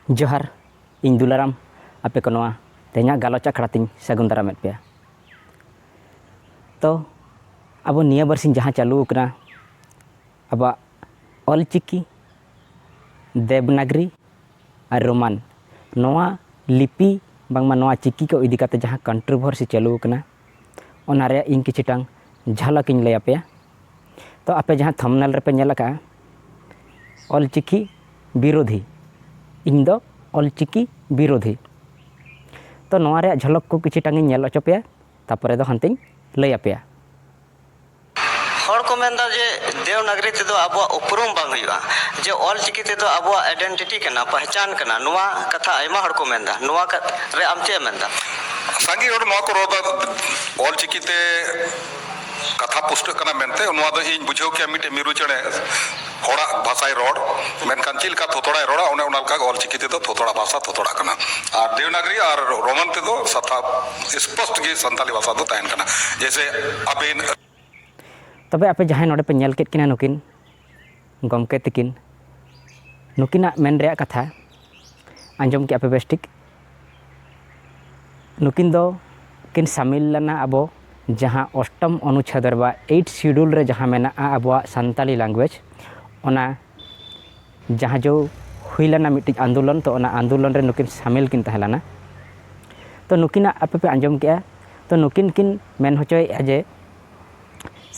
ᱡᱚᱦᱟᱨ ᱤᱧ ᱫᱩᱞᱟᱨᱟᱢ ᱟᱯᱮ ᱠᱚ ᱱᱚᱣᱟ ᱛᱮᱦᱮᱧᱟᱜ ᱜᱟᱞᱚᱪ ᱟᱠᱷᱲᱟ ᱛᱤᱧ ᱥᱟᱹᱜᱩᱱ ᱫᱟᱨᱟᱢᱮᱫ ᱯᱮᱭᱟ ᱛᱚ ᱟᱵᱚ ᱱᱤᱭᱟᱹ ᱵᱟᱨᱥᱤᱧ ᱡᱟᱦᱟᱸ ᱪᱟᱹᱞᱩ ᱟᱠᱟᱱᱟ ᱟᱵᱚᱣᱟᱜ ᱚᱞ ᱪᱤᱠᱤ ᱫᱮᱵᱽᱱᱟᱜᱽᱨᱤ ᱟᱨ ᱨᱳᱢᱟᱱ ᱱᱚᱣᱟ ᱞᱤᱯᱤ ᱵᱟᱝᱢᱟ ᱱᱚᱣᱟ ᱪᱤᱠᱤ ᱠᱚ ᱤᱫᱤ ᱠᱟᱛᱮᱫ ᱡᱟᱦᱟᱸ ᱠᱚᱱᱴᱨᱳᱵᱷᱟᱨᱥᱤ ᱪᱟᱹᱞᱩ ᱟᱠᱟᱱᱟ ᱚᱱᱟ ᱨᱮᱭᱟᱜ ᱤᱧ ᱠᱤᱪᱷᱩ ᱴᱟᱝ ᱡᱷᱟᱞᱟᱠ ᱤᱧ ᱞᱟᱹᱭ ᱟᱯᱮᱭᱟ ᱛᱚ ᱟᱯᱮ ᱡᱟᱦᱟᱸ ᱛᱷᱟᱢᱱᱮᱞ ᱨᱮᱯᱮ ᱧᱮᱞ ᱟᱠᱟᱫᱼᱟ ᱚᱞᱪᱤᱠᱤ ᱵᱤᱨᱳᱫᱷᱤ ᱤᱧ ᱫᱚ ᱚᱞᱪᱤᱠᱤ ᱵᱤᱨᱳᱫᱷᱤ ᱛᱚ ᱱᱚᱣᱟ ᱨᱮᱭᱟᱜ ᱡᱷᱚᱞᱚᱠ ᱠᱚ ᱠᱤᱪᱷᱩ ᱴᱟᱝ ᱤᱧ ᱧᱮᱞ ᱦᱚᱪᱚ ᱯᱮᱭᱟ ᱛᱟᱨᱯᱚᱨᱮ ᱫᱚ ᱦᱟᱱᱛᱮᱧ ᱞᱟᱹᱭ ᱟᱯᱮᱭᱟ ᱦᱚᱲ ᱠᱚ ᱢᱮᱱ ᱮᱫᱟ ᱡᱮ ᱫᱮᱣᱱᱟᱜᱽᱨᱤ ᱛᱮᱫᱚ ᱟᱵᱚᱣᱟᱜ ᱩᱯᱨᱩᱢ ᱵᱟᱝ ᱦᱩᱭᱩᱜᱼᱟ ᱡᱮ ᱚᱞ ᱪᱤᱠᱤ ᱛᱮᱫᱚ ᱟᱵᱚᱣᱟᱜ ᱟᱭᱰᱮᱱᱴᱤᱴᱤ ᱠᱟᱱᱟ ᱯᱟᱦᱪᱟᱱ ᱠᱟᱱᱟ ᱱᱚᱣᱟ ᱠᱟᱛᱷᱟ ᱟᱭᱢᱟ ᱦᱚᱲ ᱠᱚ ᱢᱮᱱ ᱮᱫᱟ ᱱᱚᱣᱟ ᱨᱮ ᱟᱢ ᱪᱮᱫ ᱮᱢ ᱢᱮᱱ ᱮᱫᱟ ᱥᱟᱸᱜᱮ ᱦᱚᱲ ᱱᱚᱣᱟ ᱠᱚ ᱨᱚᱲ ᱮᱫᱟ ᱚᱞ ᱪᱤᱠᱤ ᱛᱮ ᱠᱟᱛᱷᱟ ᱯᱩᱥᱴᱟᱹᱜ ᱠᱟᱱᱟ ᱢᱮᱱᱛᱮ ᱱᱚᱣᱟ ᱫᱚ ᱤᱧ ᱵᱩᱡᱷᱟᱹᱣ ᱠᱮᱭᱟ ᱢᱤᱫᱴᱮᱱ ᱢᱤᱨᱩ ᱪᱮᱬᱮ ᱦᱚᱲᱟᱜ ᱵᱷᱟᱥᱟᱭ ᱨᱚᱲ ᱢᱮᱱᱠᱷᱟᱱ ᱪᱮᱫ ᱞᱮᱠᱟ ᱛᱷᱚᱛᱚᱲᱟᱭ ᱨᱚᱲᱟ ᱚᱱᱮ ᱚᱱᱟ ᱞᱮᱠᱟ ᱜᱮ ᱚᱞ ᱪᱤᱠᱤ ᱛᱮᱫᱚ ᱛᱷᱚᱛᱚᱲᱟ ᱵᱷᱟᱥᱟ ᱛᱷᱚᱛᱚᱲᱟᱜ ᱠᱟᱱᱟ ᱟᱨ ᱫᱮᱣᱱᱟᱜᱽᱨᱤ ᱟᱨ ᱨᱳᱢᱟᱱ ᱛᱮᱫᱚ ᱥᱟᱯᱷᱟ ᱥᱯᱚᱥᱴ ᱜᱮ ᱥᱟᱱᱛᱟᱞᱤ ᱵᱷᱟᱥᱟ ᱫᱚ ᱛᱟᱦᱮᱱ ᱠᱟᱱᱟ ᱡᱮᱭᱥᱮ ᱟᱵᱤᱱ ᱛᱚᱵᱮ ᱟᱯᱮ ᱡᱟᱦᱟᱸᱭ ᱱᱚᱰᱮ ᱯᱮ ᱧᱮᱞ ᱠᱮᱫ ᱠᱤᱱᱟ ᱱᱩᱠᱤᱱ ᱜᱚᱢᱠᱮ ᱛᱤᱠᱤᱱ ᱱᱩᱠᱤᱱᱟᱜ ᱢᱮᱱ ᱨᱮᱭᱟᱜ ᱠᱟᱛᱷᱟ ᱟᱸᱡᱚᱢ ᱠᱮᱜᱼᱟ ᱯᱮ ᱵᱮᱥ ᱴᱷᱤᱠ ᱱᱩᱠᱤᱱ ᱫᱚ ᱠᱤᱱ ᱥᱟᱢᱤᱞ ᱞᱮᱱᱟ ᱟᱵᱚ ᱡᱟᱦᱟᱸ ᱚᱥᱴᱚᱢ ᱚᱱᱩᱪᱷᱮᱫ ᱨᱮ ᱵᱟ ᱮᱭᱤᱴ ᱥᱤᱰᱩᱞ ᱨᱮ ᱡᱟᱦᱟᱸ ᱢᱮᱱᱟᱜᱼᱟ ᱟᱵᱚᱣᱟᱜ ᱥᱟᱱᱛᱟᱞᱤ ᱞᱟᱝᱜᱩᱭᱮᱡᱽ ᱚᱱᱟ ᱡᱟᱦᱟᱸ ᱡᱚ ᱦᱩᱭ ᱞᱮᱱᱟ ᱢᱤᱫᱴᱤᱡ ᱟᱱᱫᱳᱞᱚᱱ ᱛᱚ ᱚᱱᱟ ᱟᱱᱫᱳᱞᱚᱱ ᱨᱮ ᱱᱩᱠᱤᱱ ᱥᱟᱢᱤᱞ ᱠᱤᱱ ᱛᱟᱦᱮᱸ ᱞᱮᱱᱟ ᱛᱚ ᱱᱩᱠᱤᱱᱟᱜ ᱟᱯᱮ ᱯᱮ ᱟᱸᱡᱚᱢ ᱠᱮᱜᱼᱟ ᱛᱚ ᱱᱩᱠᱤᱱ ᱠᱤᱱ ᱢᱮᱱ ᱦᱚᱪᱚᱭᱮᱜᱼᱟ ᱡᱮ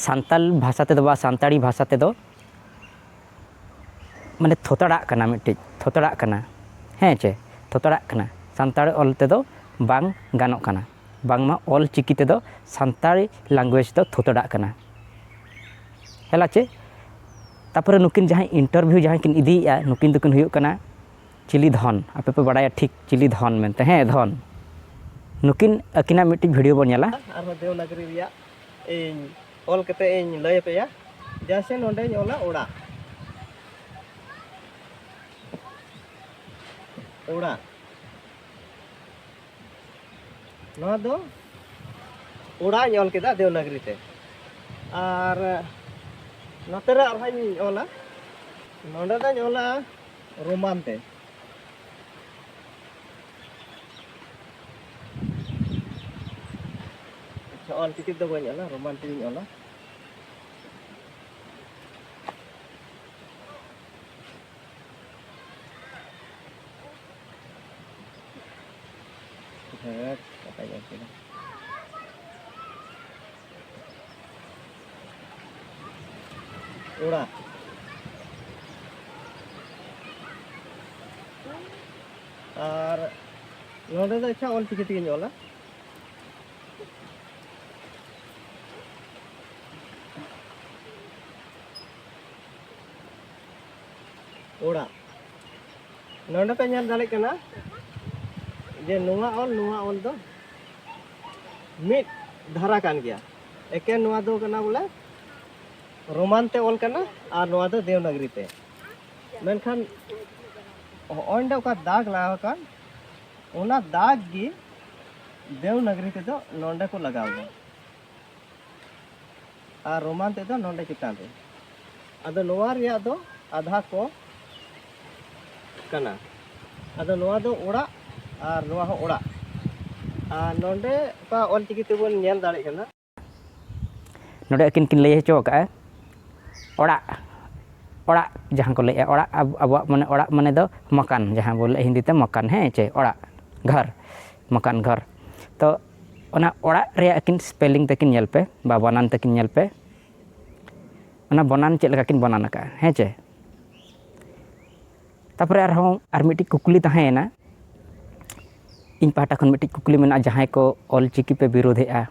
ᱥᱟᱱᱛᱟᱞ ᱵᱷᱟᱥᱟ ᱛᱮᱫᱚ ᱵᱟ ᱥᱟᱱᱛᱟᱲᱤ ᱵᱷᱟᱥᱟ ᱛᱮᱫᱚ ᱢᱟᱱᱮ ᱛᱷᱚᱛᱲᱟᱜ ᱠᱟᱱᱟ ᱢᱤᱫᱴᱤᱡ ᱛᱷᱚᱛᱲᱟᱜ ᱠᱟᱱᱟ ᱦᱮᱸ ᱪᱮ ᱛᱷᱚᱛᱲᱟᱜ ᱠᱟᱱᱟ ᱥᱟᱱᱛᱟᱲ ᱚᱞ ᱛᱮᱫᱚ ᱵᱟᱝ ᱜᱟᱱᱚᱜ ᱠᱟᱱᱟ ᱵᱟᱝᱢᱟ ᱚᱞ ᱪᱤᱠᱤ ᱛᱮᱫᱚ ᱥᱟᱱᱛᱟᱲᱤ ᱞᱮᱝᱜᱩᱭᱮᱡᱽ ᱫᱚ ᱛᱷᱚᱛᱲᱟᱜ ᱠᱟᱱᱟ ᱦᱮᱞᱟ ᱪᱮ ᱛᱟᱨᱯᱚᱨᱮ ᱱᱩᱠᱤᱱ ᱡᱟᱦᱟᱸᱭ ᱤᱱᱴᱟᱨᱵᱷᱤᱭᱩ ᱡᱟᱦᱟᱸᱭ ᱠᱤᱱ ᱤᱫᱤᱭᱮᱜᱼᱟ ᱱᱩᱠᱤᱱ ᱫᱚᱠᱤᱱ ᱦᱩᱭᱩᱜ ᱠᱟᱱᱟ ᱪᱤᱞᱤ ᱫᱷᱚᱱ ᱟᱯᱮ ᱯᱮ ᱵᱟᱲᱟᱭᱟ ᱴᱷᱤᱠ ᱪᱤᱞᱤ ᱫᱷᱚᱱ ᱢᱮᱱᱛᱮ ᱦᱮᱸ ᱫᱷᱚᱱ ᱱᱩᱠᱤᱱ ᱟᱹᱠᱤᱱᱟᱜ ᱢᱤᱫᱴᱤᱡ ᱵᱷᱤᱰᱤᱭᱳ ᱵᱚᱱ ᱧᱮᱞᱟ ᱟᱨᱦᱚᱸ ᱫᱮᱣᱱᱟᱜᱚᱨᱤ ᱨᱮᱭᱟᱜ ᱤᱧ ᱚᱞ ᱠᱟᱛᱮ ᱤᱧ ᱞᱟᱹᱭ ᱟᱯᱮᱭᱟ ᱡᱟᱥᱮ ᱱᱚᱰᱮᱧ ᱚᱞᱟ ᱚᱲᱟᱜ ᱚᱲᱟᱜ ᱱᱚᱣᱟ ᱫᱚ ᱚᱲᱟᱜ ᱤᱧ ᱚᱞ ᱠᱮᱫᱟ ᱫᱮᱣᱱᱟᱜᱨᱤ ᱛᱮ ᱟᱨ ᱱᱚᱛᱮ ᱨᱮ ᱟᱨᱦᱚᱸᱧ ᱚᱞᱟ ᱱᱚᱰᱮ ᱫᱚᱧ ᱚᱞᱟ ᱨᱳᱢᱟᱱ ᱛᱮ ᱚᱞ ᱪᱤᱠᱤ ᱫᱚ ᱵᱟᱹᱧ ᱚᱞᱟ ᱨᱳᱢᱟᱱ ᱛᱮᱜᱮᱧ ᱚᱞᱟ ᱚᱲᱟᱜ ᱟᱨ ᱱᱚᱰᱮ ᱫᱚ ᱟᱪᱪᱷᱟ ᱚᱞ ᱪᱤᱠᱤ ᱛᱮᱜᱮᱧ ᱚᱞᱟ ᱚᱲᱟᱜ ᱱᱚᱰᱮ ᱯᱮ ᱧᱮᱞ ᱫᱟᱲᱮᱭᱟᱜ ᱠᱟᱱᱟ ᱡᱮ ᱱᱚᱣᱟ ᱚᱞ ᱱᱚᱣᱟ ᱚᱞ ᱫᱚ ᱢᱤᱫ ᱫᱷᱟᱨᱟ ᱠᱟᱱ ᱜᱮᱭᱟ ᱮᱠᱮᱱ ᱱᱚᱣᱟ ᱫᱚ ᱠᱟᱱᱟ ᱵᱚᱞᱮ ᱨᱳᱢᱟᱱ ᱛᱮ ᱚᱞ ᱠᱟᱱᱟ ᱟᱨ ᱱᱚᱣᱟ ᱫᱚ ᱫᱮᱣᱱᱟᱜᱨᱤ ᱛᱮ ᱢᱮᱱᱠᱷᱟᱱ ᱚᱸᱰᱮ ᱚᱠᱟ ᱫᱟᱜᱽ ᱞᱟᱜᱟᱣ ᱟᱠᱟᱱ ᱚᱱᱟ ᱫᱟᱜᱽ ᱜᱮ ᱫᱮᱣᱱᱟᱜᱨᱤ ᱛᱮᱫᱚ ᱱᱚᱰᱮ ᱠᱚ ᱞᱟᱜᱟᱣ ᱮᱫᱟ ᱟᱨ ᱨᱳᱢᱟᱱ ᱛᱮᱫ ᱫᱚ ᱱᱚᱰᱮ ᱪᱮᱛᱟᱱ ᱨᱮ ᱟᱫᱚ ᱱᱚᱣᱟ ᱨᱮᱭᱟᱜ ᱫᱚ ᱟᱫᱷᱟ ᱠᱚ ᱠᱟᱱᱟ ᱟᱫᱚ ᱱᱚᱣᱟ ᱫᱚ ᱚᱲᱟᱜ ᱟᱨ ᱱᱚᱣᱟ ᱦᱚᱸ ᱚᱲᱟᱜ ᱟᱨ ᱱᱚᱰᱮ ᱚᱠᱟ ᱚᱞᱪᱤᱠᱤ ᱛᱮᱵᱚᱱ ᱧᱮᱞ ᱫᱟᱲᱮᱭᱟᱜ ᱠᱟᱱᱟ ᱱᱚᱰᱮ ᱟᱹᱠᱤᱱ ᱠᱤᱱ ᱞᱟᱹᱭ ᱦᱚᱪᱚ ᱟᱠᱟᱫᱼᱟ ᱚᱲᱟᱜ ᱚᱲᱟᱜ ᱡᱟᱦᱟᱸ ᱠᱚ ᱞᱟᱹᱭᱮᱫᱼᱟ ᱚᱲᱟᱜ ᱟᱵᱚᱣᱟᱜ ᱢᱟᱱᱮ ᱚᱲᱟᱜ ᱢᱟᱱᱮ ᱫᱚ ᱢᱟᱠᱟᱱ ᱡᱟᱦᱟᱸ ᱵᱚᱱ ᱞᱟᱹᱭᱮᱫᱼᱟ ᱦᱤᱱᱫᱤ ᱛᱮ ᱢᱟᱠᱟᱱ ᱦᱮᱸ ᱪᱮ ᱚᱲᱟᱜ ᱜᱷᱚᱨ ᱢᱟᱠᱟᱱ ᱜᱷᱚᱨ ᱛᱚ ᱚᱱᱟ ᱚᱲᱟᱜ ᱨᱮᱭᱟᱜ ᱟᱹᱠᱤᱱ ᱥᱯᱮᱞᱤᱝ ᱛᱟᱹᱠᱤᱱ ᱧᱮᱞ ᱯᱮ ᱵᱟ ᱵᱟᱱᱟᱱ ᱛᱟᱹᱠᱤᱱ ᱧᱮᱞ ᱯᱮ ᱚᱱᱟ ᱵᱟᱱᱟᱱ ᱪᱮᱫ ᱞᱮᱠᱟ ᱠᱤᱱ ᱵᱟᱱᱟᱱ ᱟᱠᱟᱜᱼᱟ ᱦᱮᱸ ᱪᱮ ᱛᱟᱨᱯᱚᱨᱮ ᱟᱨᱦᱚᱸ ᱟᱨ ᱢᱤᱫᱴᱤᱡ ᱠᱩᱠᱞᱤ ᱛᱟᱦᱮᱸᱭᱮᱱᱟ ᱤᱧ ᱯᱟᱦᱴᱟ ᱠᱷᱚᱱ ᱢᱤᱫᱴᱤᱡ ᱠᱩᱠᱞᱤ ᱢᱮᱱᱟᱜᱼᱟ ᱡᱟᱦᱟᱸᱭ ᱠᱚ ᱚᱞ ᱪᱤᱠᱤ ᱯᱮ ᱵᱤᱨᱳᱫᱷᱮᱜᱼᱟ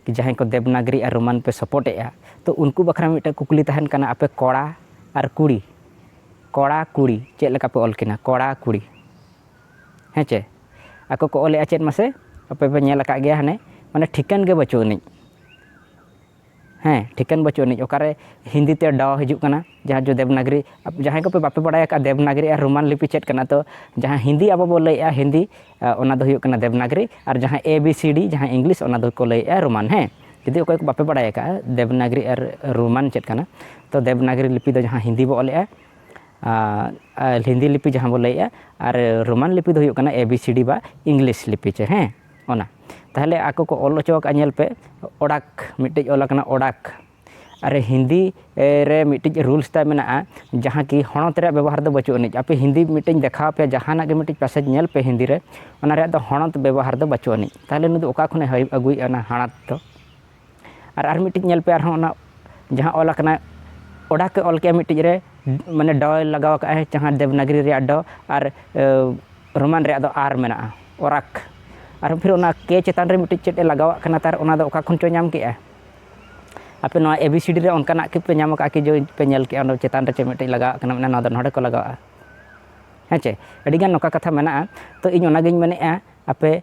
ᱠᱤ ᱡᱟᱦᱟᱸᱭ ᱠᱚ ᱫᱮᱵᱽᱱᱟᱜᱽᱨᱤ ᱟᱨ ᱨᱳᱢᱟᱱ ᱯᱮ ᱥᱚᱯᱚᱴᱮᱜᱼᱟ ᱛᱚ ᱩᱱᱠᱩ ᱵᱟᱠᱷᱨᱟ ᱢᱤᱫᱴᱮᱱ ᱠᱩᱠᱞᱤ ᱛᱟᱦᱮᱱ ᱠᱟᱱᱟ ᱟᱯᱮ ᱠᱚᱲᱟ ᱟᱨ ᱠᱩᱲᱤ ᱠᱚᱲᱟ ᱠᱩᱲᱤ ᱪᱮᱫ ᱞᱮᱠᱟ ᱯᱮ ᱚᱞ ᱠᱤᱱᱟ ᱠᱚᱲᱟ ᱠᱩᱲᱤ ᱦᱮᱸ ᱪᱮ ᱟᱠᱚ ᱠᱚ ᱚᱞᱮᱫᱼᱟ ᱪᱮᱫ ᱢᱟᱥᱮ ᱟᱯᱮ ᱯᱮ ᱧᱮᱞ ᱟᱠᱟᱫ ᱜᱮᱭᱟ ᱦᱟᱱᱮ ᱢᱟᱱᱮ ᱴᱷᱤᱠᱟᱹᱱ ᱜᱮ ᱵᱟᱹᱪᱩᱜ ᱟᱹᱱᱤᱡ ᱦᱮᱸ ᱴᱷᱤᱠᱟᱹᱱ ᱵᱟᱹᱪᱩᱜ ᱟᱹᱱᱤᱡ ᱚᱠᱟᱨᱮ ᱦᱤᱱᱫᱤ ᱛᱮ ᱰᱚ ᱦᱤᱡᱩᱜ ᱠᱟᱱᱟ ᱡᱟᱦᱟᱸ ᱡᱚ ᱫᱮᱵᱽᱱᱟᱜᱽᱨᱤ ᱡᱟᱦᱟᱸᱭ ᱠᱚᱯᱮ ᱵᱟᱯᱮ ᱵᱟᱲᱟᱭ ᱟᱠᱟᱫ ᱫᱮᱵᱽᱱᱟᱜᱽᱨᱤ ᱟᱨ ᱨᱳᱢᱟᱱ ᱞᱤᱯᱤ ᱪᱮᱫ ᱠᱟᱱᱟ ᱛᱚ ᱡᱟᱦᱟᱸ ᱦᱤᱱᱫᱤ ᱟᱵᱚ ᱵᱚ ᱞᱟᱹᱭᱮᱫᱼᱟ ᱦᱤᱱᱫᱤ ᱚᱱᱟ ᱫᱚ ᱦᱩᱭᱩᱜ ᱠᱟᱱᱟ ᱫᱮᱵᱽᱱᱟᱜᱽᱨᱤ ᱟᱨ ᱡᱟᱦᱟᱸ ᱮ ᱵᱤ ᱥᱤ ᱰᱤ ᱡᱟᱦᱟᱸ ᱤᱝᱞᱤᱥ ᱚᱱᱟ ᱫᱚᱠᱚ ᱞᱟᱹᱭᱮᱫᱼᱟ ᱨᱳᱢᱟᱱ ᱦᱮᱸ ᱡᱩᱫᱤ ᱚᱠᱚᱭ ᱠᱚ ᱵᱟᱯᱮ ᱵᱟᱲᱟᱭ ᱟᱠᱟᱫᱼᱟ ᱫᱮᱵᱽᱱᱟᱜᱽᱨᱤ ᱟᱨ ᱨᱳᱢᱟᱱ ᱪᱮᱫ ᱠᱟᱱᱟ ᱛᱚ ᱫᱮᱵᱽᱱᱟᱜᱽᱨᱤ ᱞᱤᱯᱤ ᱫᱚ ᱡᱟᱦᱟᱸ ᱦᱤᱱᱫᱤ ᱵᱚ ᱚᱞᱮᱫᱼᱟ ᱟᱨ ᱦᱤᱱᱫᱤ ᱞᱤᱯᱤ ᱡᱟᱦᱟᱸ ᱵᱚᱱ ᱞᱟᱹᱭᱮᱫᱼᱟ ᱟᱨ ᱨᱳᱢᱟᱱ ᱞᱤᱯᱤ ᱫᱚ ᱦᱩᱭᱩᱜ ᱠᱟᱱᱟ ᱮ ᱵᱤ ᱥᱤ ᱰᱤ ᱵᱟ ᱤᱝᱞᱤᱥ ᱞᱤᱯᱤ ᱪᱮ ᱦᱮᱸ ᱚᱱᱟ ᱛᱟᱦᱚᱞᱮ ᱟᱠᱚ ᱠᱚ ᱚᱞ ᱦᱚᱪᱚ ᱟᱠᱟᱫᱼᱟ ᱧᱮᱞ ᱯᱮ ᱚᱰᱟᱠ ᱢᱤᱫᱴᱮᱡ ᱚᱞ ᱟᱠᱟᱱᱟ ᱚᱰᱟᱠ ᱟᱨ ᱦᱤᱱᱫᱤ ᱨᱮ ᱢᱤᱫᱴᱤᱡ ᱨᱩᱞᱥ ᱛᱟᱭ ᱢᱮᱱᱟᱜᱼᱟ ᱡᱟᱦᱟᱸ ᱠᱤ ᱦᱚᱬᱚᱛ ᱨᱮᱭᱟᱜ ᱵᱮᱵᱚᱦᱟᱨ ᱫᱚ ᱵᱟᱹᱪᱩᱜ ᱟᱹᱱᱤᱡ ᱟᱯᱮ ᱦᱤᱱᱫᱤ ᱢᱤᱫᱴᱮᱡ ᱤᱧ ᱫᱮᱠᱷᱟᱣ ᱟᱯᱮᱭᱟ ᱡᱟᱦᱟᱱᱟᱜ ᱜᱮ ᱢᱤᱫᱴᱤᱡ ᱯᱮᱥᱮᱡᱽ ᱧᱮᱞ ᱯᱮ ᱦᱤᱱᱫᱤ ᱨᱮ ᱚᱱᱟ ᱨᱮᱭᱟᱜ ᱫᱚ ᱦᱚᱬᱚᱛ ᱵᱮᱵᱚᱦᱟᱨ ᱫᱚ ᱵᱟᱹᱪᱩᱜ ᱟᱹᱱᱤᱡ ᱛᱟᱦᱚᱞᱮ ᱱᱩᱭ ᱫᱚ ᱚᱠᱟ ᱠᱷᱚᱱᱮ ᱟᱹᱜᱩᱭᱮᱫᱼᱟ ᱚᱱᱟ ᱦᱚᱬᱚᱛ ᱫᱚ ᱟᱨ ᱟᱨ ᱢᱤᱫᱴᱤᱡ ᱧᱮᱞ ᱯᱮ ᱟᱨᱦᱚᱸ ᱚᱱᱟ ᱡᱟᱦᱟᱸ ᱚᱞ ᱟᱠᱟᱱᱟ ᱚᱰᱟ ᱠᱚ ᱚᱞ ᱠᱮᱜᱼᱟ ᱢᱤᱫᱴᱤᱡ ᱨᱮ ᱢᱟᱱᱮ ᱰᱚᱭ ᱞᱟᱜᱟᱣ ᱠᱟᱜᱼᱟᱭ ᱡᱟᱦᱟᱸ ᱫᱮᱵᱽᱱᱟᱜᱽᱨᱤ ᱨᱮᱭᱟᱜ ᱰᱚ ᱟᱨ ᱨᱳᱢᱟᱱ ᱨᱮᱭᱟᱜ ᱫᱚ ᱟᱨ ᱢᱮᱱᱟᱜᱼᱟ ᱚᱨᱟᱠ ᱟᱨ ᱯᱷᱤᱨ ᱚᱱᱟ ᱠᱮ ᱪᱮᱛᱟᱱ ᱨᱮ ᱢᱤᱫᱴᱤᱡ ᱪᱮᱫ ᱮ ᱞᱟᱜᱟᱣᱟᱜ ᱠᱟᱱᱟ ᱛᱟᱨ ᱚᱱᱟ ᱫᱚ ᱚᱠᱟ ᱠᱷᱚᱱ ᱪᱚᱭ ᱧᱟᱢ ᱠᱮᱜᱼᱟ ᱟᱯᱮ ᱱᱚᱣᱟ ᱮ ᱵᱤ ᱥᱤ ᱰᱤ ᱨᱮ ᱚᱱᱠᱟᱱᱟᱜ ᱜᱮᱯᱮ ᱧᱟᱢ ᱠᱟᱜᱼᱟ ᱠᱤ ᱡᱮ ᱯᱮ ᱧᱮᱞ ᱠᱮᱜᱼᱟ ᱚᱱᱟ ᱪᱮᱛᱟᱱ ᱨᱮ ᱪᱮᱫ ᱢᱤᱫᱴᱤᱡ ᱞᱟᱜᱟᱣᱟᱜ ᱠᱟᱱᱟ ᱢᱟᱱᱮ ᱱᱚᱣᱟ ᱫᱚ ᱱᱚᱰᱮ ᱠᱚ ᱞᱟᱜᱟᱣᱟᱜᱼᱟ ᱦᱮᱸ ᱪᱮ ᱟᱹᱰᱤᱜᱟᱱ ᱱᱚᱝᱠᱟ ᱠᱟᱛᱷᱟ ᱢᱮᱱᱟᱜᱼᱟ ᱛᱚ ᱤᱧ ᱚᱱᱟᱜᱤᱧ ᱢᱮᱱᱮᱜᱼᱟ ᱟᱯᱮ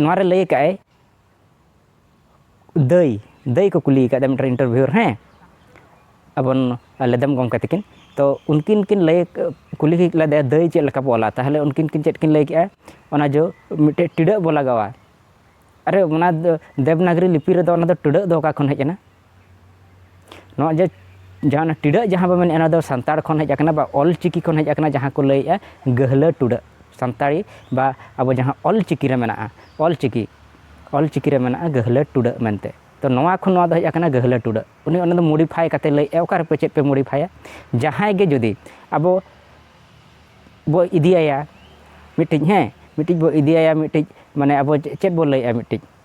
ᱱᱚᱣᱟᱨᱮ ᱞᱟᱹᱭ ᱟᱠᱟᱫ ᱟᱭ ᱫᱟᱹᱭ ᱫᱟᱹᱭ ᱠᱚ ᱠᱩᱞᱤ ᱟᱠᱟᱫᱟ ᱢᱤᱫᱴᱮᱱ ᱤᱱᱴᱟᱨᱵᱷᱤᱭᱩᱨ ᱦᱮᱸ ᱟᱵᱚ ᱞᱮᱫᱟᱢ ᱜᱚᱢᱠᱮ ᱛᱟᱹᱠᱤᱱ ᱛᱚ ᱩᱱᱠᱤᱱ ᱠᱤᱱ ᱞᱟᱹᱭ ᱠᱩᱞᱤ ᱞᱮᱫᱮᱭᱟ ᱫᱟᱹᱭ ᱪᱮᱫ ᱞᱮᱠᱟ ᱵᱚ ᱚᱞᱟ ᱛᱟᱦᱚᱞᱮ ᱩᱱᱠᱤᱱ ᱠᱤᱱ ᱪᱮᱫ ᱠᱤᱱ ᱞᱟᱹᱭ ᱠᱮᱫᱼᱟ ᱚᱱᱟ ᱡᱚ ᱢᱤᱫᱴᱮᱡ ᱴᱤᱰᱟᱹᱜ ᱵᱚ ᱞᱟᱜᱟᱣᱟ ᱟᱨᱮ ᱚᱱᱟ ᱫᱚ ᱫᱮᱵᱽᱱᱟᱜᱚᱨᱤ ᱞᱤᱯᱤ ᱨᱮᱫᱚ ᱚᱱᱟ ᱫᱚ ᱴᱤᱰᱟᱹᱜ ᱫᱚ ᱚᱠᱟ ᱠᱷᱚᱱ ᱦᱮᱡ ᱮᱱᱟ ᱱᱚᱣᱟ ᱡᱮ ᱡᱟᱦᱟᱸ ᱚᱱᱟ ᱴᱤᱰᱟᱹᱜ ᱡᱟᱦᱟᱸ ᱵᱚ ᱢᱮᱱᱮᱫᱼᱟ ᱚᱱᱟ ᱫᱚ ᱥᱟᱱᱛᱟᱲ ᱠᱷᱚᱱ ᱦᱮᱡ ᱟᱠᱟᱱᱟ ᱵᱟ ᱚᱞ ᱪᱤᱠᱤ ᱠᱷᱚᱱ ᱦᱮᱡ ᱟᱠᱟᱱᱟ ᱡᱟᱦᱟᱸ ᱠᱚ ᱞᱟᱹᱭᱮᱫᱼᱟ ᱜᱟᱹᱦᱞᱟᱹ ᱴᱩᱰᱟᱹᱜ ᱥᱟᱱᱛᱟᱲᱤ ᱵᱟ ᱟᱵᱚ ᱡᱟᱦᱟᱸ ᱚᱞ ᱪᱤᱠᱤ ᱨᱮ ᱢᱮᱱᱟᱜᱼᱟ ᱚᱞ ᱪᱤᱠᱤ ᱚᱞ ᱪᱤᱠᱤ ᱨᱮ ᱢᱮᱱᱟᱜᱼᱟ ᱜᱟᱹᱦᱞᱟᱹ ᱴᱩᱰᱟᱹᱜ ᱢᱮᱱᱛᱮ ᱛᱚ ᱱᱚᱣᱟ ᱠᱷᱚᱱ ᱱᱚᱣᱟ ᱫᱚ ᱦᱮᱡ ᱟᱠᱟᱱᱟ ᱜᱟᱹᱦᱞᱟᱹ ᱴᱩᱰᱟᱹᱜ ᱩᱱᱤ ᱚᱱᱟ ᱫᱚ ᱢᱚᱰᱤᱯᱷᱟᱭ ᱠᱟᱛᱮ ᱞᱟᱹᱭᱮᱫᱼᱟ ᱚᱠᱟ ᱨᱮᱯᱮ ᱪᱮᱫ ᱯᱮ ᱢᱚᱰᱤᱯᱷᱟᱭᱟ ᱡᱟᱦᱟᱸᱭ ᱜᱮ ᱡᱩᱫᱤ ᱟᱵᱚ ᱵᱚ ᱤᱫᱤᱭᱟᱭᱟ ᱢᱤᱫᱴᱤᱡ ᱦᱮᱸ ᱢᱤᱫᱴᱤᱡ ᱵᱚ ᱤᱫᱤᱭᱟᱭᱟ ᱢᱤᱫᱴᱤᱡ ᱢᱟᱱᱮ ᱟᱵᱚ ᱪᱮᱫ ᱵᱚ ᱞᱟᱹᱭᱮᱫᱼᱟ ᱢᱤᱫᱴᱤᱡ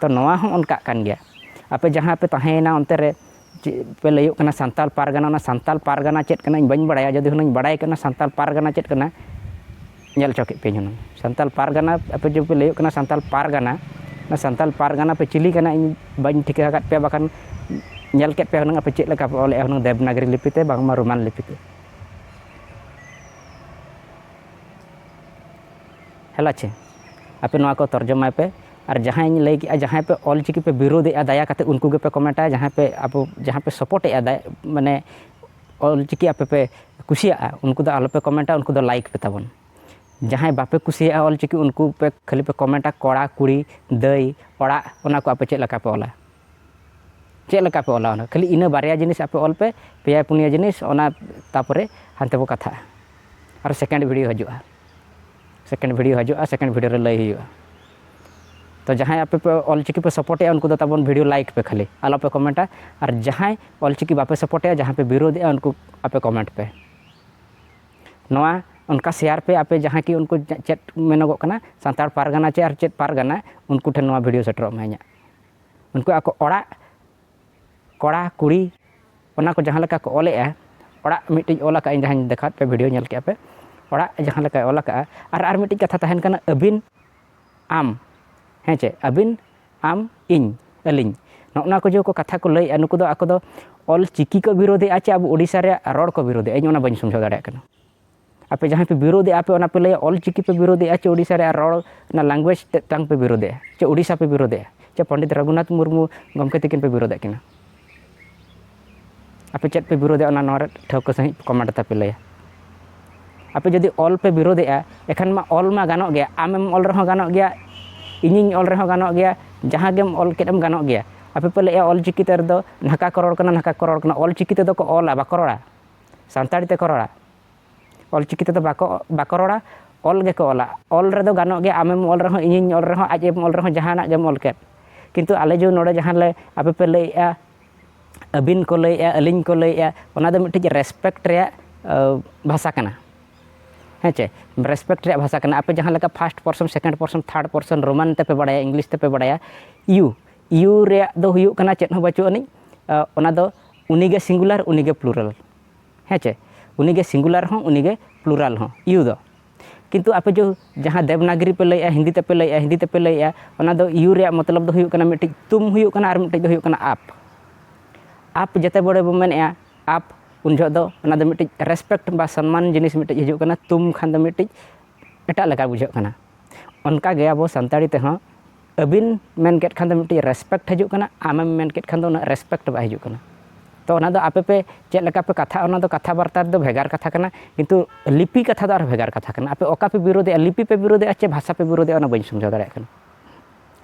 ᱛᱚ ᱱᱚᱣᱟ ᱦᱚᱸ ᱚᱱᱠᱟᱜ ᱠᱟᱱ ᱜᱮᱭᱟ ᱟᱯᱮ ᱡᱟᱦᱟᱸ ᱯᱮ ᱛᱟᱦᱮᱸᱭᱮᱱᱟ ᱚᱱᱛᱮ ᱨᱮ ᱪᱮᱫ ᱯᱮ ᱞᱟᱹᱭᱟᱹᱜ ᱠᱟᱱᱟ ᱥᱟᱱᱛᱟᱲ ᱯᱟᱨᱜᱟᱱᱟ ᱚᱱᱟ ᱥᱟᱱᱛᱟᱲ ᱯᱟᱨᱜᱟᱱᱟ ᱪᱮᱫ ᱠᱟᱱᱟ ᱤᱧ ᱵᱟᱹᱧ ᱵᱟᱲᱟᱭᱟ ᱡᱩᱫᱤ ᱦᱩᱱᱟᱹᱝ ᱵᱟᱲᱟᱭ ᱠᱟᱱᱟ ᱥᱟᱱᱛᱟᱲ ᱯᱟᱨᱜᱟᱱᱟ ᱪᱮᱫ ᱠᱟᱱᱟ ᱧᱮᱞ ᱦᱚᱪᱚ ᱠᱮᱫ ᱯᱮᱭᱟᱹᱧ ᱦᱩᱱᱟᱹᱝ ᱥᱟᱱᱛᱟᱲ ᱯᱟᱨᱜᱟᱱᱟ ᱟᱯᱮ ᱡᱮ ᱯᱮ ᱞᱟᱹᱭᱟᱹᱜ ᱠᱟᱱᱟ ᱥᱟᱱᱛᱟᱲ ᱯᱟᱨᱜᱟᱱᱟ ᱚᱱᱟ ᱥᱟᱱᱛᱟᱲ ᱯᱟᱨᱜᱟᱱᱟ ᱯᱮ ᱪᱤᱞᱤ ᱠᱟᱱᱟ ᱤᱧ ᱵᱟᱹᱧ ᱴᱷᱤᱠᱟᱹ ᱟᱠᱟᱫ ᱯᱮᱭᱟ ᱵᱟᱠᱷᱟᱱ ᱧᱮᱞ ᱠᱮᱫ ᱯᱮᱭᱟ ᱦᱩᱱᱟᱹᱝ ᱟᱯᱮ ᱪᱮᱫ ᱞᱮᱠᱟ ᱯᱮ ᱚᱞᱮᱫᱼᱟ ᱦᱩᱱᱟᱹᱝ ᱫᱮᱵᱽᱱᱟᱜᱽᱨᱤ ᱞᱤᱯᱤ ᱛᱮ ᱵᱟᱝᱢᱟ ᱨᱳᱢᱟᱱ ᱞᱤᱯᱤ ᱛᱮ ᱦᱮᱞᱟᱪᱮ ᱟᱯᱮ ᱱᱚᱣᱟ ᱠᱚ ᱛᱚᱨᱡᱚᱢᱟᱭ ᱯᱮ ᱟᱨ ᱡᱟᱦᱟᱸᱭ ᱞᱟᱹᱭ ᱠᱮᱜᱼᱟ ᱡᱟᱦᱟᱸᱭ ᱯᱮ ᱚᱞ ᱪᱤᱠᱤ ᱯᱮ ᱵᱤᱨᱳᱫᱮᱜᱼᱟ ᱫᱟᱭᱟ ᱠᱟᱛᱮ ᱩᱱᱠᱩ ᱜᱮᱯᱮ ᱠᱚᱢᱮᱱᱴᱟ ᱡᱟᱦᱟᱸᱭ ᱯᱮ ᱟᱵᱚ ᱡᱟᱦᱟᱸ ᱯᱮ ᱥᱚᱯᱳᱨᱴᱮᱜᱼᱟ ᱢᱟᱱᱮ ᱚᱞ ᱪᱤᱠᱤ ᱟᱯᱮ ᱯᱮ ᱠᱩᱥᱤᱭᱟᱜᱼᱟ ᱩᱱᱠᱩ ᱫᱚ ᱟᱞᱚ ᱯᱮ ᱠᱚᱢᱮᱱᱴᱟ ᱩᱱᱠᱩ ᱫᱚ ᱞᱟᱭᱤᱠ ᱯᱮ ᱛᱟᱵᱚᱱ ᱡᱟᱦᱟᱸᱭ ᱵᱟᱯᱮ ᱠᱩᱥᱤᱭᱟᱜᱼᱟ ᱚᱞ ᱪᱤᱠᱤ ᱩᱱᱠᱩ ᱯᱮ ᱠᱷᱟᱹᱞᱤ ᱯᱮ ᱠᱚᱢᱮᱱᱴᱟ ᱠᱚᱲᱟ ᱠᱩᱲᱤ ᱫᱟᱹᱭ ᱚᱲᱟᱜ ᱚᱱᱟ ᱠᱚ ᱟᱯᱮ ᱪᱮᱫ ᱞᱮᱠᱟ ᱯᱮ ᱚᱞᱟ ᱪᱮᱫ ᱞᱮᱠᱟ ᱯᱮ ᱚᱞᱟ ᱚᱱᱟ ᱠᱷᱟᱹᱞᱤ ᱤᱱᱟᱹ ᱵᱟᱨᱭᱟ ᱡᱤᱱᱤᱥ ᱟᱯᱮ ᱚᱞ ᱯᱮ ᱯᱮᱭᱟ ᱯᱩᱱᱭᱟ ᱡᱤᱱᱤᱥ ᱚᱱᱟ ᱛᱟᱨᱯᱚᱨᱮ ᱦᱟᱱᱛᱮ ᱵᱚ ᱠᱟᱛᱷᱟᱜᱼᱟ ᱟᱨ ᱥᱮᱠᱮᱱᱰ ᱵᱷᱤᱰᱤᱭᱳ ᱦᱤᱡᱩᱜᱼᱟ ᱥᱮᱠᱮᱱᱰ ᱵᱷᱤᱰᱤᱭᱳ ᱦᱤᱡᱩᱜᱼᱟ ᱥᱮᱠᱮᱱᱰ ᱵᱷᱤᱰᱤᱭᱳ ᱨᱮ ᱞᱟᱹᱭ ᱦᱩᱭᱩᱜᱼᱟ ᱛᱚ ᱡᱟᱦᱟᱸᱭ ᱟᱯᱮ ᱯᱮ ᱚᱞᱪᱤᱠᱤ ᱯᱮ ᱥᱟᱯᱳᱨᱴᱮᱜᱼᱟ ᱩᱱᱠᱩ ᱫᱚ ᱛᱟᱵᱚᱱ ᱵᱷᱤᱰᱤᱭᱳ ᱞᱟᱭᱤᱠ ᱯᱮ ᱠᱷᱟᱹᱞᱤ ᱟᱞᱚᱯᱮ ᱠᱚᱢᱮᱱᱴᱟ ᱟᱨ ᱡᱟᱦᱟᱸᱭ ᱚᱞᱪᱤᱠᱤ ᱵᱟᱯᱮ ᱥᱟᱯᱳᱨᱴᱮᱜᱼᱟ ᱡᱟᱦᱟᱸᱭ ᱯᱮ ᱵᱤᱨᱳᱫᱷᱮᱜᱼᱟ ᱩᱱᱠᱩ ᱟᱯᱮ ᱠᱚᱢᱮᱱᱴ ᱯᱮ ᱱᱚᱣᱟ ᱚᱱᱠᱟ ᱥᱮᱭᱟᱨ ᱯᱮ ᱟᱯᱮ ᱡᱟᱦᱟᱸᱭ ᱠᱤ ᱩᱱᱠᱩ ᱪᱮᱫ ᱢᱮᱱᱚᱜᱚᱜ ᱠᱟᱱᱟ ᱥᱟᱱᱛᱟᱲ ᱯᱟᱨᱜᱟᱱᱟ ᱪᱮ ᱟᱨ ᱪᱮᱫ ᱯᱟᱨᱜᱟᱱᱟ ᱩᱱᱠᱩ ᱴᱷᱮᱱ ᱱᱚᱣᱟ ᱵᱷᱤᱰᱤᱭᱳ ᱥᱮᱴᱮᱨᱚᱜ ᱢᱟ ᱤᱧᱟᱹᱜ ᱩᱱᱠᱩ ᱟᱠᱚ ᱚᱲᱟᱜ ᱠᱚᱲᱟ ᱠᱩᱲᱤ ᱚᱱᱟ ᱠᱚ ᱡᱟᱦᱟᱸ ᱞᱮᱠᱟ ᱠᱚ ᱚᱞᱮᱜᱼᱟ ᱚᱲᱟᱜ ᱢᱤᱫᱴᱤᱡ ᱚᱞ ᱟᱠᱟᱫ ᱟᱹᱧ ᱡᱟᱦᱟᱸᱧ ᱫᱮᱠᱷᱟᱣᱟᱫ ᱯᱮ ᱵᱷᱤᱰᱤᱭᱳ ᱧᱮᱞ ᱠᱮᱜᱼᱟ ᱯᱮ ᱚᱲᱟᱜ ᱡᱟᱦᱟᱸ ᱞᱮᱠᱟᱭ ᱚᱞ ᱟᱠᱟᱫᱼᱟ ᱟᱨ ᱟᱨ ᱢᱤᱫᱴᱤᱡ ᱠᱟᱛᱷᱟ ᱛᱟᱦᱮᱱ ᱠᱟᱱᱟ ᱟᱹᱵᱤᱱ ᱟᱢ ᱦᱮᱸ ᱪᱮ ᱟᱹᱵᱤᱱ ᱟᱢ ᱤᱧ ᱟᱹᱞᱤᱧ ᱱᱚᱜᱼᱚ ᱱᱚᱣᱟ ᱠᱚ ᱡᱮ ᱠᱚ ᱠᱟᱛᱷᱟ ᱠᱚ ᱞᱟᱹᱭᱮᱜᱼᱟ ᱱᱩᱠᱩ ᱫᱚ ᱟᱠᱚ ᱫᱚ ᱚᱞ ᱪᱤᱠᱤ ᱠᱚ ᱵᱤᱨᱳᱫᱷᱮᱜᱼᱟ ᱪᱮ ᱟᱵᱚ ᱳᱰᱤᱥᱟ ᱨᱮᱭᱟᱜ ᱨᱚᱲ ᱠᱚ ᱵᱤᱨᱳᱫᱷᱮᱜᱼᱟ ᱤᱧ ᱚᱱᱟ ᱵᱟᱹᱧ ᱥᱚᱢᱡᱷᱟᱣ ᱫᱟᱲᱮᱭᱟᱜ ᱠᱟᱱᱟ ᱟᱯᱮ ᱡᱟᱦᱟᱸᱭ ᱯᱮ ᱵᱤᱨᱳᱫᱮᱜᱼᱟ ᱟᱯᱮ ᱚᱱᱟ ᱯᱮ ᱞᱟᱹᱭᱟ ᱚᱞ ᱪᱤᱠᱤ ᱯᱮ ᱵᱤᱨᱳᱫᱮᱜᱼᱟ ᱪᱮ ᱳᱰᱤᱥᱟ ᱨᱮ ᱨᱚᱲ ᱚᱱᱟ ᱞᱮᱝᱜᱩᱭᱮᱡᱽ ᱛᱮᱫ ᱛᱟᱝ ᱯᱮ ᱵᱤᱨᱳᱫᱮᱜᱼᱟ ᱪᱮ ᱳᱰᱤᱥᱟ ᱯᱮ ᱵᱤᱨᱳᱫᱮᱜᱼᱟ ᱪᱮ ᱯᱚᱱᱰᱤᱛ ᱨᱚᱜᱷᱩᱱᱟᱛᱷ ᱢᱩᱨᱢᱩ ᱜᱚᱢᱠᱮ ᱛᱤᱠᱤᱱ ᱯᱮ ᱵᱤᱨᱳᱫᱮᱜ ᱠᱤᱱᱟ ᱟᱯᱮ ᱪᱮᱫ ᱯᱮ ᱵᱤᱨᱳᱫᱮᱜᱼᱟ ᱚᱱᱟ ᱱᱚᱣᱟ ᱨᱮ ᱴᱷᱟᱹᱣᱠᱟᱹ ᱥᱟᱺᱦᱤᱡ ᱠᱚᱢᱮᱱᱴ ᱛᱟᱯᱮ ᱞᱟᱹᱭᱟ ᱟᱯᱮ ᱡᱩᱫᱤ ᱚᱞ ᱯᱮ ᱵᱤᱨᱳᱫᱮᱜᱼᱟ ᱮᱠᱷᱟᱱ ᱢᱟ ᱚᱞ ᱢᱟ ᱜᱟᱱᱚᱜ ᱜᱮᱭᱟ ᱟᱢᱮᱢ ᱚᱞ ᱨᱮᱦᱚᱸ ᱜᱟᱱᱚᱜ ᱜᱮᱭᱟ ᱤᱧᱤᱧ ᱚᱞ ᱨᱮᱦᱚᱸ ᱜᱟᱱᱚᱜ ᱜᱮᱭᱟ ᱡᱟᱦᱟᱸ ᱜᱮᱢ ᱚᱞ ᱠᱮᱫ ᱮᱢ ᱜᱟᱱᱚᱜ ᱜᱮᱭᱟ ᱟᱯᱮ ᱯᱮ ᱞᱟᱹᱭᱮᱜᱼᱟ ᱚᱞ ᱪᱤᱠᱤ ᱛᱮ ᱨᱮᱫᱚ ᱱᱟᱦᱠᱟ ᱠᱚ ᱨᱚᱲ ᱠᱟᱱᱟ ᱱᱟᱦᱠᱟ ᱠᱚ ᱨᱚᱲ ᱠᱟᱱᱟ ᱚᱞ ᱪᱤᱠᱤ ᱛᱮᱫᱚ ᱠᱚ ᱚᱞᱟ ᱵᱟᱠᱚ ᱨᱚᱲᱟ ᱥᱟᱱᱛᱟᱲᱤ ᱛᱮᱠᱚ ᱨᱚᱲᱟ ᱚᱞ ᱪᱤᱠᱤ ᱛᱮᱫᱚ ᱵᱟᱠᱚ ᱵᱟᱠᱚ ᱨᱚᱲᱟ ᱚᱞ ᱜᱮᱠᱚ ᱚᱞᱟ ᱚᱞ ᱨᱮᱫᱚ ᱜᱟᱱᱚᱜ ᱜᱮᱭᱟ ᱟᱢᱮᱢ ᱚᱞ ᱨᱮᱦᱚᱸ ᱤᱧᱤᱧ ᱚᱞ ᱨᱮᱦᱚᱸ ᱟᱡ ᱮᱢ ᱚᱞ ᱨᱮᱦᱚᱸ ᱡᱟᱦᱟᱱᱟᱜ ᱜᱮᱢ ᱚᱞ ᱠᱮᱫ ᱠᱤᱱᱛᱩ ᱟᱞᱮ ᱡᱮ ᱱᱚᱰᱮ ᱡᱟᱦᱟᱸ ᱞᱮ ᱟᱯᱮ ᱯᱮ ᱞᱟᱹᱭᱮᱜᱼᱟ ᱟᱹᱵᱤᱱ ᱠᱚ ᱞᱟᱹᱭᱮᱜᱼᱟ ᱟᱹᱞᱤᱧ ᱠᱚ ᱞᱟᱹᱭᱮᱜᱼᱟ ᱚᱱᱟ ᱫᱚ ᱢᱤᱫᱴᱤᱡ ᱨᱮᱥᱯᱮᱠᱴ ᱨᱮᱭᱟᱜ ᱵᱷᱟᱥᱟ ᱠᱟᱱᱟ ᱦᱮᱸ ᱪᱮ ᱨᱮᱥᱯᱮᱠᱴ ᱨᱮᱭᱟᱜ ᱵᱷᱟᱥᱟ ᱠᱟᱱᱟ ᱟᱯᱮ ᱡᱟᱦᱟᱸ ᱞᱮᱠᱟ first person second person third person Roman ᱛᱮᱯᱮ ᱵᱟᱲᱟᱭᱟ ᱤᱝᱞᱤᱥ ᱛᱮᱯᱮ ᱵᱟᱲᱟᱭᱟ ᱤᱭᱩ ᱤᱭᱩ ᱨᱮᱭᱟᱜ ᱫᱚ ᱦᱩᱭᱩᱜ ᱠᱟᱱᱟ ᱪᱮᱫ ᱦᱚᱸ ᱵᱟᱹᱪᱩᱜ ᱟᱹᱱᱤᱡ ᱚᱱᱟ ᱫᱚ ᱩᱱᱤᱜᱮ ᱥᱤᱝᱜᱩᱞᱟᱨ ᱩᱱᱤᱜᱮ ᱯᱞᱩᱨᱟᱞ ᱦᱮᱸ ᱪᱮ ᱩᱱᱤᱜᱮ ᱥᱤᱝᱜᱩᱞᱟᱨ ᱦᱚᱸ ᱩᱱᱤᱜᱮ ᱯᱞᱩᱨᱟᱞ ᱦᱚᱸ ᱤᱭᱩ ᱫᱚ ᱠᱤᱱᱛᱩ ᱟᱯᱮ ᱡᱚ ᱡᱟᱦᱟᱸ ᱫᱮᱵᱽᱱᱟᱜᱨᱤ ᱯᱮ ᱞᱟᱹᱭᱮᱜᱼᱟ ᱦᱤᱱᱫᱤ ᱛᱮᱯᱮ ᱞᱟᱹᱭᱮᱜᱼᱟ ᱦᱤᱱᱫᱤ ᱛᱮᱯᱮ ᱞᱟᱹᱭᱮᱜᱼᱟ ᱚᱱᱟ ᱫᱚ ᱤᱭᱩ ᱨᱮᱭᱟᱜ ᱢᱚᱛᱞᱚᱵ ᱫᱚ ᱦᱩᱭᱩᱜ ᱠᱟᱱᱟ ᱢᱤᱫᱴᱤᱡ ᱛᱩᱢ ᱦᱩᱭᱩᱜ ᱠᱟᱱᱟ ᱟᱨ ᱢᱤᱫᱴᱤᱡ ᱫᱚ ᱦᱩᱭᱩᱜ ᱠᱟᱱᱟ ᱟᱯ ᱟᱯ ᱡᱮᱛᱮ ᱵᱚᱲᱮ ᱵᱚ ᱢᱮᱱᱮᱜᱼᱟ ᱟᱯ ᱩᱱ ᱡᱚᱦᱚᱜ ᱫᱚ ᱚᱱᱟ ᱫᱚ ᱢᱤᱫᱴᱤᱡ ᱨᱮᱥᱯᱮᱠᱴ ᱵᱟ ᱥᱚᱱᱢᱟᱱ ᱡᱤᱱᱤᱥ ᱢᱤᱫᱴᱤᱡ ᱦᱤᱡᱩᱜ ᱠᱟᱱᱟ ᱛᱩᱢ ᱠᱷᱟᱱ ᱫᱚ ᱢᱤᱫᱴᱤᱡ ᱮᱴᱟᱜ ᱞᱮᱠᱟ ᱵᱩᱡᱷᱟᱹᱜ ᱠᱟᱱᱟ ᱚᱱᱠᱟ ᱜᱮ ᱟᱵᱚ ᱥᱟᱱᱛᱟᱲᱤ ᱛᱮᱦᱚᱸ ᱟᱹᱵᱤᱱ ᱢᱮᱱ ᱠᱮᱫ ᱠᱷᱟᱱ ᱫᱚ ᱢᱤᱫᱴᱤᱡ ᱨᱮᱥᱯᱮᱠᱴ ᱦᱤᱡᱩᱜ ᱠᱟᱱᱟ ᱟᱢᱮᱢ ᱢᱮᱱ ᱠᱮᱫ ᱠᱷᱟᱱ ᱫᱚ ᱩᱱᱟᱹᱜ ᱨᱮᱥᱯᱮᱠᱴ ᱵᱟᱭ ᱦᱤᱡᱩᱜ ᱠᱟᱱᱟ ᱛᱚ ᱚᱱᱟ ᱫᱚ ᱟᱯᱮ ᱯᱮ ᱪᱮᱫ ᱞᱮᱠᱟ ᱯᱮ ᱠᱟᱛᱷᱟᱜᱼᱟ ᱚᱱᱟ ᱫᱚ ᱠᱟᱛᱷᱟ ᱵᱟᱨᱛᱟ ᱨᱮᱫᱚ ᱵᱷᱮᱜᱟᱨ ᱠᱟᱛᱷᱟ ᱠᱟᱱᱟ ᱠᱤᱱᱛᱩ ᱞᱤᱯᱤ ᱠᱟᱛᱷᱟ ᱫᱚ ᱟᱨ ᱵᱷᱮᱜᱟᱨ ᱠᱟᱛᱷᱟ ᱠᱟᱱᱟ ᱟᱯᱮ ᱚᱠᱟ ᱯᱮ ᱵᱤᱨᱳᱫᱮᱜᱼᱟ ᱞᱤᱯᱤ ᱯᱮ ᱵᱤᱨᱳᱫᱮᱜᱼᱟ ᱪᱮ ᱵᱷᱟᱥᱟ ᱯᱮ ᱵᱤᱨᱳᱫᱮᱜᱼᱟ ᱚᱱᱟ ᱵᱟᱹᱧ ᱥᱚᱢᱡᱷᱟᱣ ᱫᱟᱲᱮᱭᱟᱜ ᱠᱟᱱᱟ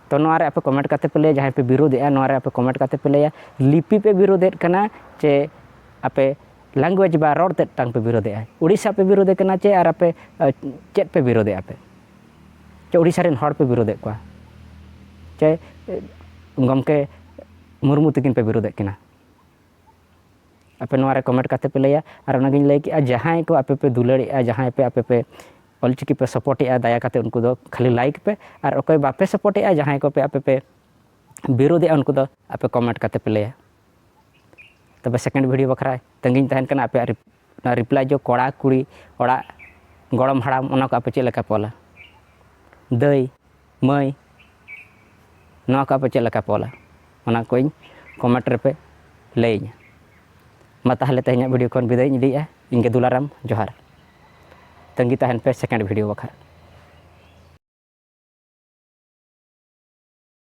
ᱛᱚ ᱱᱚᱣᱟ ᱨᱮ ᱟᱯᱮ ᱠᱚᱢᱮᱱᱴ ᱠᱟᱛᱮ ᱯᱮ ᱞᱟᱹᱭᱟ ᱡᱟᱦᱟᱸᱭ ᱯᱮ ᱵᱤᱨᱳᱫᱮᱜᱼᱟ ᱱᱚᱣᱟ ᱨᱮ ᱟᱯᱮ ᱠᱚᱢᱮᱱᱴ ᱠᱟᱛᱮ ᱯᱮ ᱞᱟᱹᱭᱟ ᱞᱤᱯᱤ ᱯᱮ ᱵᱤᱨᱳᱫᱮᱫ ᱠᱟᱱᱟ ᱪᱮ ᱟᱯᱮ ᱞᱮᱝᱜᱩᱭᱮᱡᱽ ᱵᱟ ᱨᱚᱲ ᱛᱮᱫ ᱛᱟᱝ ᱯᱮ ᱵᱤᱨᱳᱫᱮᱜᱼᱟ ᱩᱲᱤᱥᱥᱟ ᱯᱮ ᱵᱤᱨᱳᱫᱮ ᱠᱟᱱᱟ ᱪᱮ ᱟᱨ ᱟᱯᱮ ᱪᱮᱫ ᱯᱮ ᱵᱤᱨᱳᱫᱮᱜᱼᱟ ᱯᱮ ᱪᱮ ᱩᱲᱤᱥᱥᱟ ᱨᱮᱱ ᱦᱚᱲ ᱯᱮ ᱵᱤᱨᱳᱫᱮᱫ ᱠᱚᱣᱟ ᱪᱮ ᱜᱚᱢᱠᱮ ᱢᱩᱨᱢᱩ ᱛᱤᱠᱤᱱ ᱯᱮ ᱵᱤᱨᱳᱫᱮᱫ ᱠᱤᱱᱟ ᱟᱯᱮ ᱱᱚᱣᱟ ᱨᱮ ᱠᱚᱢᱮᱱᱴ ᱠᱟᱛᱮ ᱯᱮ ᱞᱟᱹᱭᱟ ᱟᱨ ᱚᱱᱟᱜᱤᱧ ᱞᱟᱹᱭ ᱠᱮᱜᱼᱟ ᱡᱟᱦᱟᱸᱭ ᱠᱚ ᱟᱯᱮ ᱯᱮ ᱫᱩᱞᱟᱹᱲᱮᱜᱼᱟ ᱡᱟᱦᱟᱸᱭ ᱯᱮ ᱟᱯᱮ ᱯᱮ ᱚᱞᱪᱤᱠᱤ ᱯᱮ ᱥᱚᱯᱚᱨᱴᱮᱜᱼᱟ ᱫᱟᱭᱟ ᱠᱟᱛᱮ ᱩᱱᱠᱩ ᱫᱚ ᱠᱷᱟᱹᱞᱤ ᱞᱟᱭᱤᱠ ᱯᱮ ᱟᱨ ᱚᱠᱚᱭ ᱵᱟᱯᱮ ᱥᱚᱯᱚᱨᱴᱮᱜᱼᱟ ᱡᱟᱦᱟᱸᱭ ᱠᱚᱯᱮ ᱟᱯᱮ ᱯᱮ ᱵᱤᱨᱳᱫᱮᱜᱼᱟ ᱩᱱᱠᱩ ᱫᱚ ᱟᱯᱮ ᱠᱚᱢᱮᱱᱴ ᱠᱟᱛᱮ ᱯᱮ ᱞᱟᱹᱭᱟ ᱛᱚᱵᱮ ᱥᱮᱠᱮᱱᱰ ᱵᱷᱤᱰᱤᱭᱳ ᱵᱟᱠᱷᱨᱟ ᱛᱟᱺᱜᱤᱧ ᱛᱟᱦᱮᱱ ᱠᱟᱱᱟ ᱟᱯᱮᱭᱟᱜ ᱚᱱᱟ ᱨᱤᱯᱞᱟᱭ ᱡᱚ ᱠᱚᱲᱟ ᱠᱩᱲᱤ ᱚᱲᱟᱜ ᱜᱚᱲᱚᱢ ᱦᱟᱲᱟᱢ ᱚᱱᱟ ᱠᱚ ᱟᱯᱮ ᱪᱮᱫ ᱞᱮᱠᱟ ᱯᱮ ᱚᱞᱟ ᱫᱟᱹᱭ ᱢᱟᱹᱭ ᱱᱚᱣᱟ ᱠᱚ ᱟᱯᱮ ᱪᱮᱫ ᱞᱮᱠᱟ ᱯᱮ ᱚᱞᱟ ᱚᱱᱟ ᱠᱚᱧ ᱠᱚᱢᱮᱱᱴ ᱨᱮᱯᱮ ᱞᱟᱹᱭᱟᱹᱧᱟ ᱢᱟ ᱛᱟᱦᱚᱞᱮ ᱛᱮᱦᱮᱧᱟᱜ ᱵᱷᱤᱰᱤᱭᱳ ᱠᱷᱚᱱ ᱵᱤᱫᱟᱹᱭᱤᱧ ᱤᱫᱤᱭᱮᱜᱼᱟ ᱤᱧᱜᱮ ᱫᱩᱞᱟᱨᱟᱢ ᱡᱚᱦᱟᱨ ᱛᱟᱺᱜᱤ ᱛᱟᱦᱮᱱ ᱯᱮ ᱥᱮᱠᱮᱱᱰ ᱵᱷᱤᱰᱤᱭᱳ ᱵᱟᱠᱷᱨᱟ